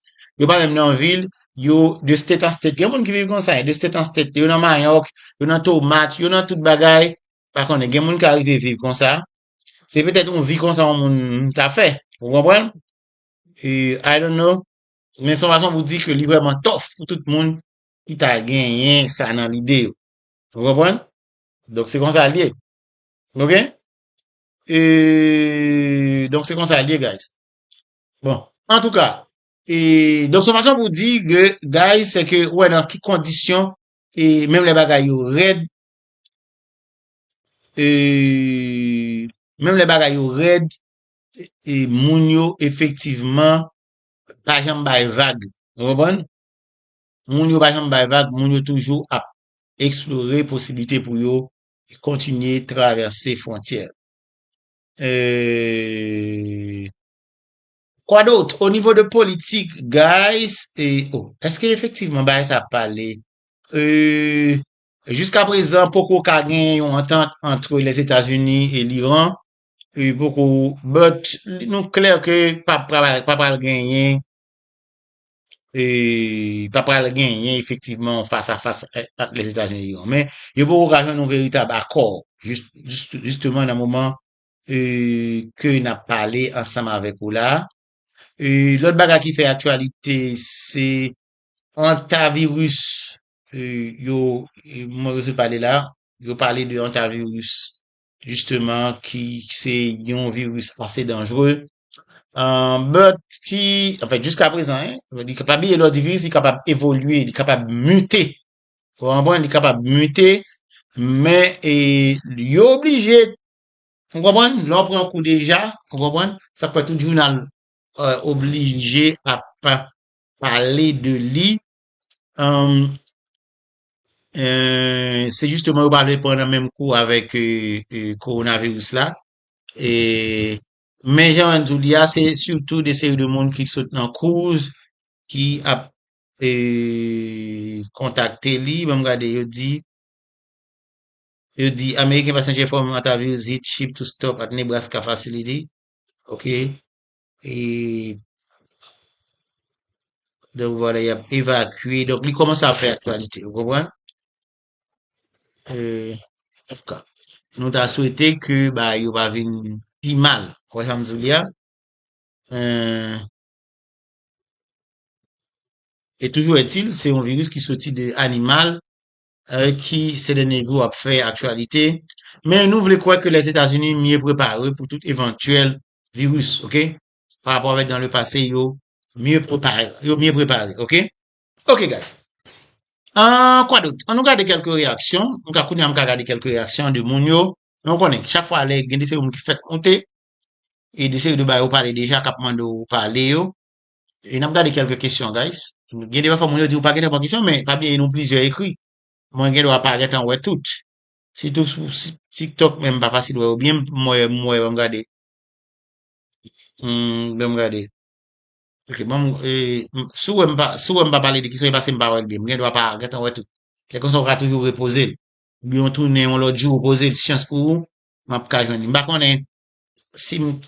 A: Yo pa menm nan vil, yo de state an state. Gen moun ki viv konsa, de state an state. Yo nan mayòk, yo nan tomat, yo nan tout bagay. Pa konnen, gen moun ki arive viv konsa. Se petèt yon vi konsa yon moun ta fè. Ou konprann? E, I don't know. Men son fason pou di ke li vrèman tof pou tout moun ki ta genyen sa nan lide yo. Ou konprann? Donk se konsa l ye. Ok? E, donk se konsa l ye guys. Bon, an tou ka, e, donk se fason pou di ke guys se ke wè nan ki kondisyon e menm le bagay yo rèd e, menm le bagay yo rèd e moun yo efektivman pa janm bay vag. Nou konprann? Moun yo pa janm bay vag, moun yo toujou ap eksplore posiblite pou yo kontinye travèse fwontyè. Eeeee. Kwa dot? O nivo de politik guys e oh eske efektivman bagay sa ap pale? Eeeee. Jiska prezan poko ka gen yon antant antre Lèzetazini e Liran e poko but nou klè ke pa pral genyen. e ta pral genyen efektivman fas a fas ak Lèzetazini e Iran. Men, yo poko ka jwenn yon veritab akò jisteman nan moman e ke n ap pale ansanm avèk ou la. E lòt bagay ki fè aktyalite se antaviris e yo mwen yo sot pale la, yo pale de antaviris jisteman ki se yon viris ase danjre, but ki, anfen jiska prezan, li kapab li lè di viris li kapab evolye, li kapab mite, ou konprann, li kapab mite, men e yo oblije, ou konprann, lè w pran kou deja, ou konprann, sa fè tout jounal oblije ap pale de li, Se jisteman yo pa vle pran nan menm kou avèk kowonaviris la. Men jan an di li a, se sitou de seri de moun ki sot nan kouz ki ap kontakte li. Banm gade, yo di, yo di American passenger from Hantavirus hit ship to stop at Nebraska facility. Ok. e donk vwala yap evakye donk li komanse ap fè aktyalite ou konpran e antouka nou ta swete ke bagay yo pa vin pi mal ou wè sam diw li a eeh e toujou etil se yon viris ki soti de animal ki se dènye jou ap fè aktyalite, men nou vle kwè ke Lèzetazini mye prepare pou tout evantyèl viris ok, pa rapò avèk dan le pase yo mye prepare, yo mye prepare ok. Ok guys Ahh kwa dot, an nou gade kèlke reyaksyon, nou ka kounya m ka gade kèlke reyaksyon de moun yo, men ou konnen chak fwa lè gen de seri moun ki fèk moute e de seri de bagay ou pale deja kap mande w pale yo, E nap gade kelke kesyon guys. Gen de pafwa moun yo di ou pa gen tan pou kesyon men pa bliye nou plizyè ekri. Mwen gen dwa pa gen tan wè tout. Sitou sou tiktok menm m pa fasil wè yo byen m wè m wè banm gade. Humm banm gade. Ok banm e si w wè m pa si w wè m pa pale de kesyon e paske m pa wè l byen. M gen dwa pa gen tan wè tout. Lè konsa ou ka toujou repoze l. Oubyen w tounen yon lòt jou ou poze l si chans pou ou map ka jwenn li. M pa konnen si m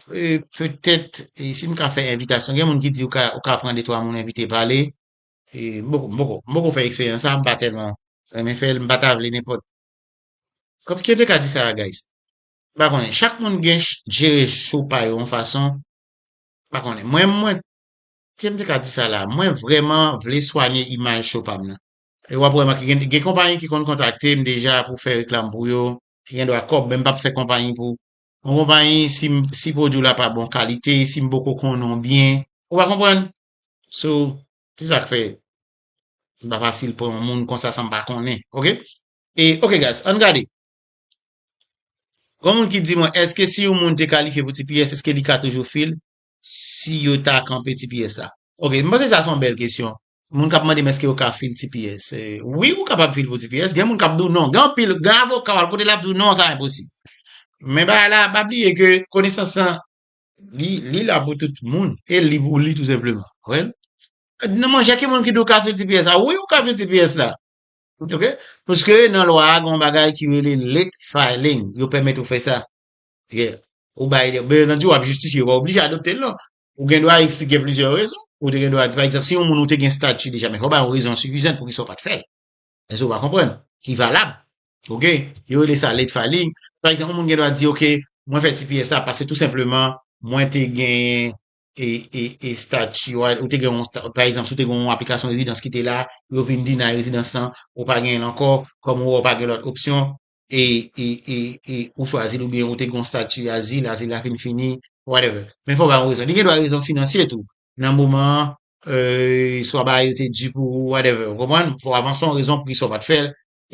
A: petèt si m ka fè envitasyon, gen moun ki di ou ka ou ka pran 2 3 moun envite pale e m poko m poko m poko fè eksperyans sa m pa tèlman renmen fè l m pa ta vle nenpòt kòm ki yo te ka di sa a guys m pa konnen chak moun gen jere cho pa yo yon fason m pa konnen mwen mwen ki jan m te ka di sa la mwen vrèman vle swanye imaj cho pa m nan e w ap wè m ak gen konpayi ki konn kontakte m deja pou fè reklam pou yo ki gen dwa kòb men m p ap fè konpayi pou Yon konpayi si m si pwodwi w la pa bon kalite, si m poko konnen w byen, ou pa konprann? So, se sa k fè li pa fasil pran yon moun konsa san m pa konnen, ok? E ok guys, ann gade. Gon moun ki di mwen, èske si yon moun te kalifye pou tps, èske li ka toujou fil? si yo ta kanpe tps la? Ok, m panse sa se yon bèl kesyon. Moun k ap mande m èske yo ka fil tps. Wi, ou kapab fil pou tps. Gen moun k ap di w non. Gen anpil, gen avoka w al kote l ap di w non sa enposib. Men bagay la, pa bliye ke konesans lan, li, li la pou tout moun. E li pou li tou senpleman. Wè? Non monchè, ki moun ki di w ka fil tps la? Wi, ou ka fil tps la. Ok? Paske nan lwa a gen yon bagay ki rele late filing. Yo pèmèt ou fè sa. Ou bay de, byen antandi w ap jistifye, ou pa oblije adopte l non. Ou gen dwa eksplike plizyè rezon, ou te gen dwa di pa egzanp si yon moun ou te gen stati deja men fò w bay yon rezon sifizan poukisa ou pa t fè l. Èske ou pa konprann? Ki valab. Ok, yo rele sa late filing. Pa egzanp yon moun gen dwa di ok mwen fè tps la paske tou senpleman mwen te genyen e stati a, ou te gen yon stati, pa egzanp si w te gen yon aplikasyon rezidans ki te la, yo vin deny rezidans lan, ou pa genyen l ankò, kòm ou wè ou pa gen lòt opsyon, e ou chwazi l oubyen ou te gen yon stati azil, azil la fin fini, whatever. Men fò w bay yon rezon. Li gen dwa rezon finansye tou. Nan moman an, swa bagay yo te di pou ou, whatever. Ou konprann? Fò w avanse yon rezon poukisa ou pa t fè l,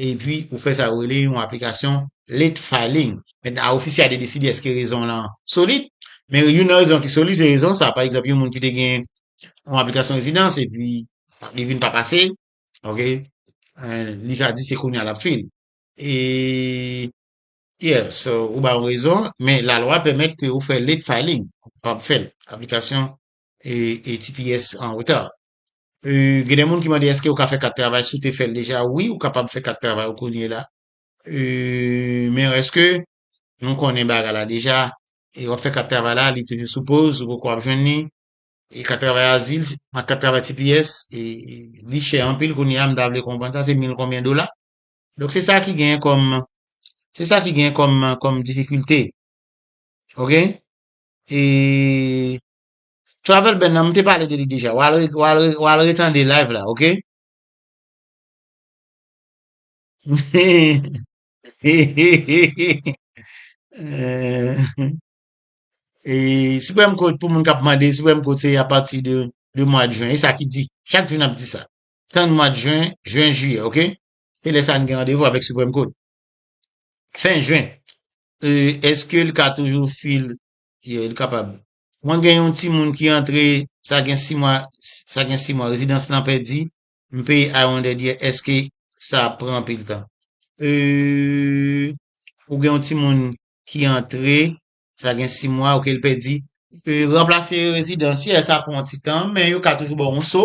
A: epi ou fè sa yo rele yon aplikasyon late filing. Mèt a ofisye a te deside èske rezon w lan solid. Men youn nan rezon ki solid se rezon sa a. Pa egzanp, yon moun ki te gen yon aplikasyon rezidans epi li vin pa pase, ok, li ka di se kounye a l ap fil. Yeah, so ou ba yo rezon, men la lwa pèmèt ke ou fè late filing, ou kapab fè l, aplikasyon TPS an reta. Gen de moun ki mande eske ou ka fè kat travay, si ou te fè l deja, wi ou kapab fè kat travay ou kounye la, men eske nou konnen bagay la deja, e wap fè kat travay la, li toujou sou poz, ou poko ap jwenn li, e kat travay azil, ak kat travay TPS, li chè anpil kounye a, m ta vle konprann sa, se mil konbyen dola? Donk se sa ki gen kòm, se sa ki gen kòm, kòm difikilte. Ok? E Travel ban nan m te pale de li deja. W al, w al, w al retande live la, ok? E Supreme Court pou moun k ap mande, Supreme Court se apati de, de mwa de Juin. E sa ki di. Chak jou n ap di sa. Tann mwad jwen, jwen jiyè ok. Se lè sa n gen randevou avèk Supreme Court. Fen jwen. Euh eske l ka toujou fil Yeah l kapab. Mwen gen yon timoun ki antre sa gen 6 mwa sa gen 6 mwa rezidans lan pèdi m peye I wondered yeah eske sa ap pran anpil tan. Euh ou gen yon timoun ki antre sa gen 6 mwa ok l pèdi. Euh ranplase rezidans yeah sa pran yon ti tan men yo ka toujou ba w yon so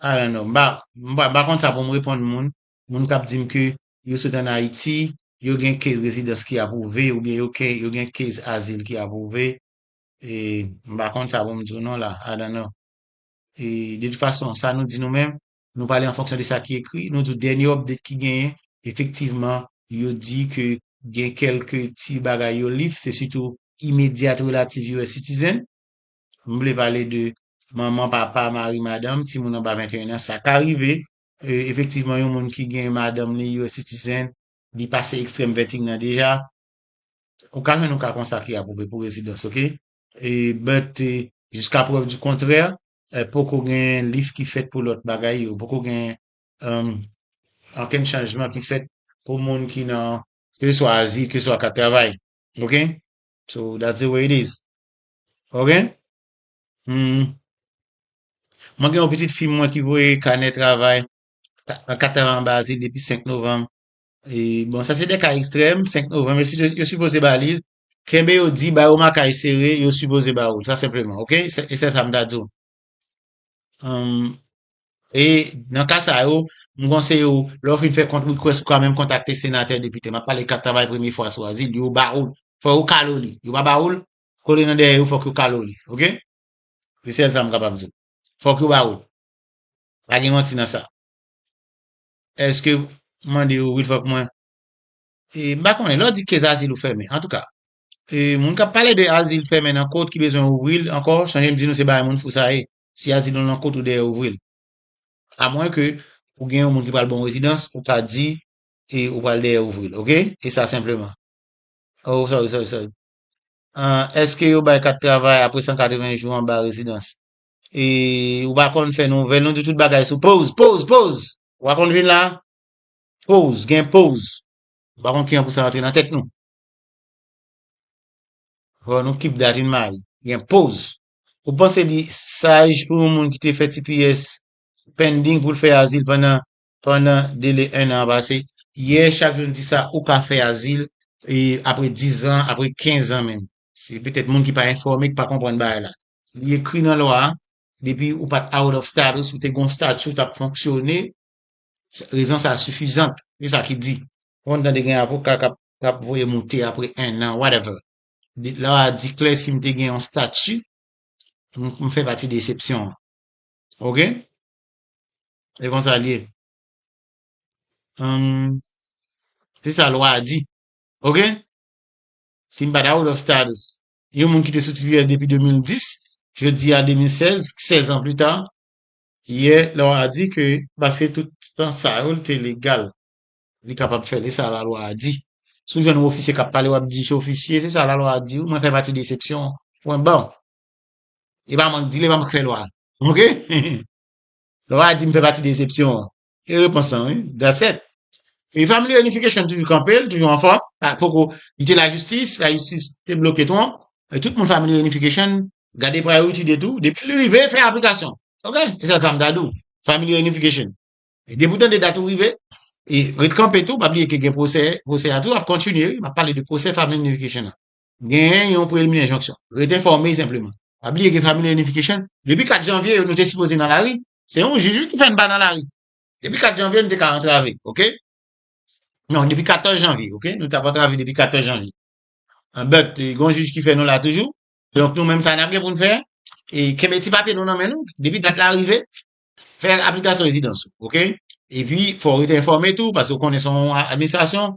A: I don't know. M pa, m pa, m pa konn sa pou m reponn moun, moun k ap di m ke yo sot ann Ayiti, yo gen case rezidans ki apwouve oubyen yo ke, yo gen case azil ki apwouve. E, m pa konn sa pou m di w non la. I don't know. E, de tout fason, sa nou di nou menm, nou pale an fonksyon de sa ki ekri. Nou di w dènye update ki genyen, efektivman, yo di ke gen kèlke ti bagay yo lift, se sitou immediate relative US citizen. M vle pale de manman, papa, mari, madanm, timoun anba 21 an. Sa ka rive, efektivman, yon moun ki gen madanm li US citizen, li pase extreme vetting nan deja. Ou ka jwenn yon ka konsa ki apwouve pou rezidans, ok? But, jiska prèv di kontrè, poko gen lif ki fèt pou lòt bagay yo. Poko gen ankenn chanjman ki fèt pou moun ki nan keseswa azil, keseswa kat travay. Ok? So, that's the way it is. Ok Humm Mwen gen yon pitit fi mwen ki voye kanè travay nan 4 tap anba asil depi 5 novanm e bon sa se de ka ekstrèm 5 novanm yo sipoze ba li l kenbe yo di ba yo makaj sere yo sipoze ba ou l sa senpleman ok e se sa m ta di w Humm e nan ka sa yo m konseye w lè w fin fè kont request ou ka menm kontakte senatè depite m ap pale kat travay premye fwa sou azil yo ba ou l fò yo kale w li yo pa ba ou l Kole nan dèyè yo fòk yo kale w li ok se sèl sa m kapab di w fòk yo ba ou l pa gen manti nan sa eske mande yo wi fòk mwen m pa konnen lè w di kez azil ou fèmen antouka moun kap pale de azil fèmen nan kò ki bezwen ouvri l ankò chanje m di nou se bay moun fou sa ye si azil ou nan kò ou dèyè ouvri l amwen ke ou gen yon moun ki pral ba w rezidans ou ka di ou pral dèyè ouvri l ok e sa senpleman oh sorry sorry sorry An, èske yo bay kat travay apre 180 jou anba rezidans? E, ou pa konn fè nouvèl, nou di tout bagay sou poz, poz, poz! Ou pa konn vin la? Poz, gen poz! Ou pa konn kijan pou sa rantre nan tèt nou? Ho, nou kip dat yn may, gen poz! Ou panse li saj pou yon moun ki te fè tps pending pou l fè azil pandan pandan dele ennan an pase. Yè, chak jou n di sa, ou ka fè azil e apre dizan, apre kenzan menm. Se petèt moun ki pa enfòme ki pa konprann bagay la. Li ekri nan lwa a, depi ou pa t out of status, ou te gen yon stati ou t ap fonksyone, rezon sa a sifizant. Se sa ki di. Ou konn tande gen avoka k ap voye moute apre ennan, whatever. Lwa a di klè si m te gen yon stati, m fè pati de esepsyon an. Ok? E konsa l ye. Hum, se sa lwa a di. Ok? Si m pa ta out of status, yon moun ki te sou TPS depi 2010, jodi a 2016, 16 an pli ta, yè lwa a di ke paske tout tan sa yo l te legal, li kapab fè l. E sa lalwa a di. Si w jwenn yon ofisye k ap pale w ap di se ofisye, se sa lalwa a di w, mwen fè pati de esepsyon an. Pwen ba. E pa mank dil, e pa mank fè lwa. Ok? Lè w a di m fè pati desepsyon an. E repons lan wi. That's it. E Family Reunification toujou kanpe, li toujou anfòm. Pa poko, li te lajistis, lajistis te bloke Trump. E tout moun Family Reunification gade priority date ou, depi li rive, fè aplikasyon. Ok? E sa l fè m ta di w. Family Reunification. E depi w tande dat ou rive, e ret kanpe tou, pa bliye ke gen pwosè, pwosè a tou ap kontinye wi, m ap pale de pwosè Family Reunification an. genyen yon prelmye enjonksyon. Rete enfòme senpleman. Pa bliye gen Family Reunification. Depi 4 janvye yo nou te sipoze nan lari. Se yon jij wi ki fè n pa nan lari. Depi 4 janvye nou te ka antrave. Ok. Non, depi 14 janvye. Ok. Nou tap antrave depi 14 janvye. But, gen yon jij ki fè nou la toujou. Donk nou menm sa nap gen pou n fè, e kenbe ti papye nou nan men nou. Depi dat la rive, fè aplikasyon rezidans ou. Ok. Epi, fò w rete enfòme tou, paske ou konnen se yon administrasyon,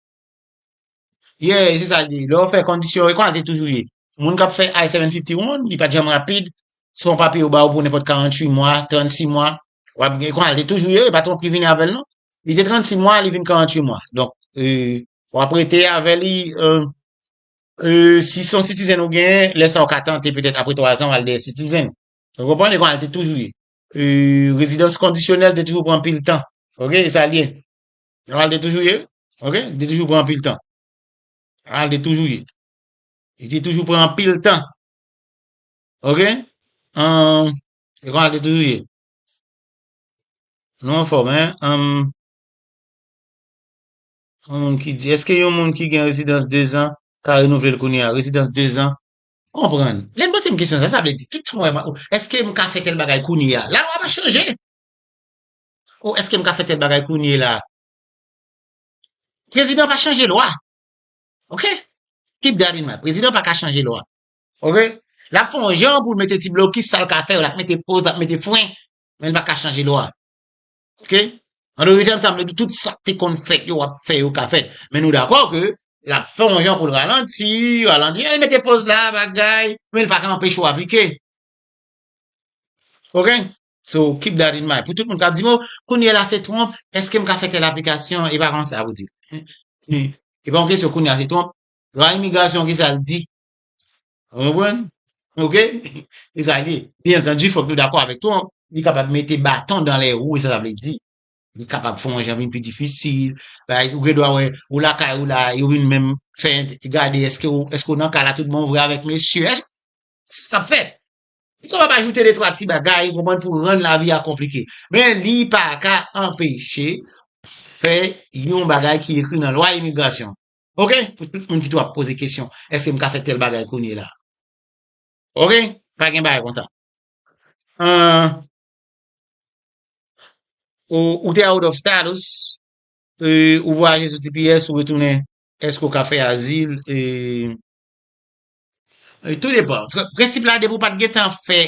A: Yeah, se sa l di. Lè w fè kondisyon e konsa l te toujou ye. Moun k ap fè I-751, li pa t janm rapid. Se yon papye yo ba w pou nenpòt 48 mwa, 36 mwa. W ap gen, konsa l te toujou ye, e pa Trump ki vini avè l non. Li te 36 mwa, li vin 48 mwa. Donk, w ap rete avè li, si se yon citizen ou genyen, lè sa w ka tante petèt apre 3 zan w al dèyè citizen. Ou konprann? E konsa l te toujou ye. Rezidans kondisyonèl te toujou pran anpil tan. Ok, e sa l ye. Jan l te toujou ye, ok, li te toujou pran anpil tan. Jan l te toujou ye. Li te toujou pran anpil tan. Ok? Um, e kon al te toujou ye. Nou an fòm, hein? Um, yon moun ki di, eske yon moun ki gen rezidans 2 zan ka renouvle l kounye a? Rezidans 2 zan? Konprann. Lè m poze m kesyon sa, sa vle di, tout mwen, eske m ka fè tel bagay kounye a? La lwa pa chanje! Oh eske m ka fè tèl bagay kounye la. Prezidan pa chanje lwa. Ok. Keep that in mind. Prezidan pa ka chanje lwa. Ok. L ap fè yon jan pou l mete ti blokis sa l ka fè yo. L ap mete poz, l ap mete fren. Men l pa ka chanje lwa. Ok. An dote tèm sa m vle di tout sa k te konn fèt yo w ap fè yo ka fèt. Men nou dakò ke l ap fè yon jan pou l ralanti, ralanti. Li mete poz la, bagay. Men l pa ka anpeche yo aplike. Ok. So keep that in mind. Pou tout moun kap di m oh kounye la se twonp, eske m ka fè tèl aplikasyon e pa konsa a pou di l. E pa yon kesyon kounye a se twonp, lwa imigrasyon ki sa l di. Ou konprann? Ok? Se sa l ye. Byen antandu fòk nou dakò avèk twonp, li kapab mete baton dan lè wou e sa sa vle di. Li kapab fè yon jan vin pi difisil, bagay ou gen dwa wè ou lakay ou la yo vin menm fè gade eske ou eske ou nan kay la tout bon vre avèk mesye. Eske sa kap fèt? Li kapab ajoute de twa ti bagay, ou konprann, pou rann lavi a konplike. Men li pa ka anpeche fè yon bagay ki ekri nan lwa imigrasyon. Ok? Pou tout moun ki tou ap poze kesyon, eske m ka fè tèl bagay kounye la? Ok? Pa gen bagay konsa. An, ou, ou te out of status, e, ou vwayaje sou tps, ou retounen, eske ou ka fè azil, e, Tou depan. Prensip la depi ou pat gen tan fè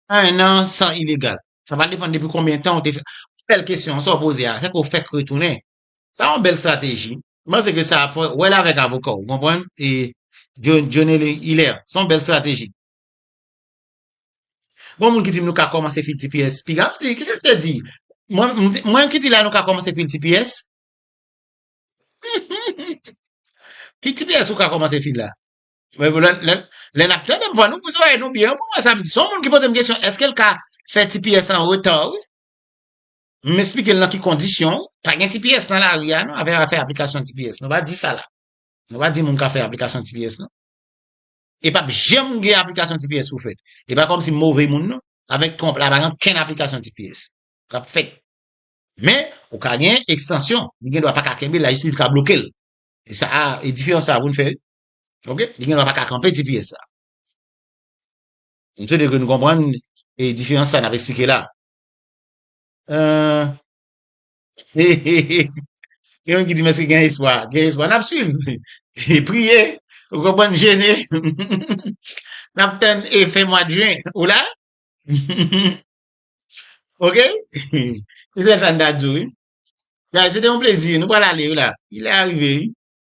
A: 1 an san ilegal. Sa va depan depi konbyen tan ou te fè. Bèl kesyon sa ou poze a. Se ke ou fèk retounen. Sa yon bèl strateji. M panse ke sa fò wè l avèk avoka w. Ou konprann? E Dionelly Hilaire. Se yon bèl strateji. Gon moun ki di m nou ka kòmanse fil tps. Piga m di. Kisa m te di? Mwen ki di la nou ka kòmanse fil tps? Ki tps ou ka kòmanse fil la? Lè nap tande m fò nou ouvri zòrèy nou byen pou n wè sa m di. Son moun ki poze m kesyon eske l ka fè tps an retan wi. M esplike l nan ki kondisyon. Pa gen tps nan lari a non avè afè aplikasyon tps. Nou pa di sa la. Nou pa di moun ka fè aplikasyon tps non. E pap janm gen aplikasyon tps pou fèt. E pa kòmsi m move moun non. Avèk Trump la pa gen okenn aplikasyon tps kap fèt. Men ou ka gen ekstansyon. Li gen dwa pa ka kenbe l lajistis ka bloke l. E sa a, e diferans sa a pou nou fè, ok, li gen dwa pa ka kanpe ti pyès la. M swete ke nou konprann e diferans sa a n ap esplike la. He he he, gen moun ki di m èske gen espwa? Gen espwa, n ap swiv, priye, ou konprann, jene, n ap tann e fen mwad jen, ou la? Ok? Se sèl sa n ta di w wi. Guys, se te yon plezi. Nou pral ale wi la. Li lè arive wi.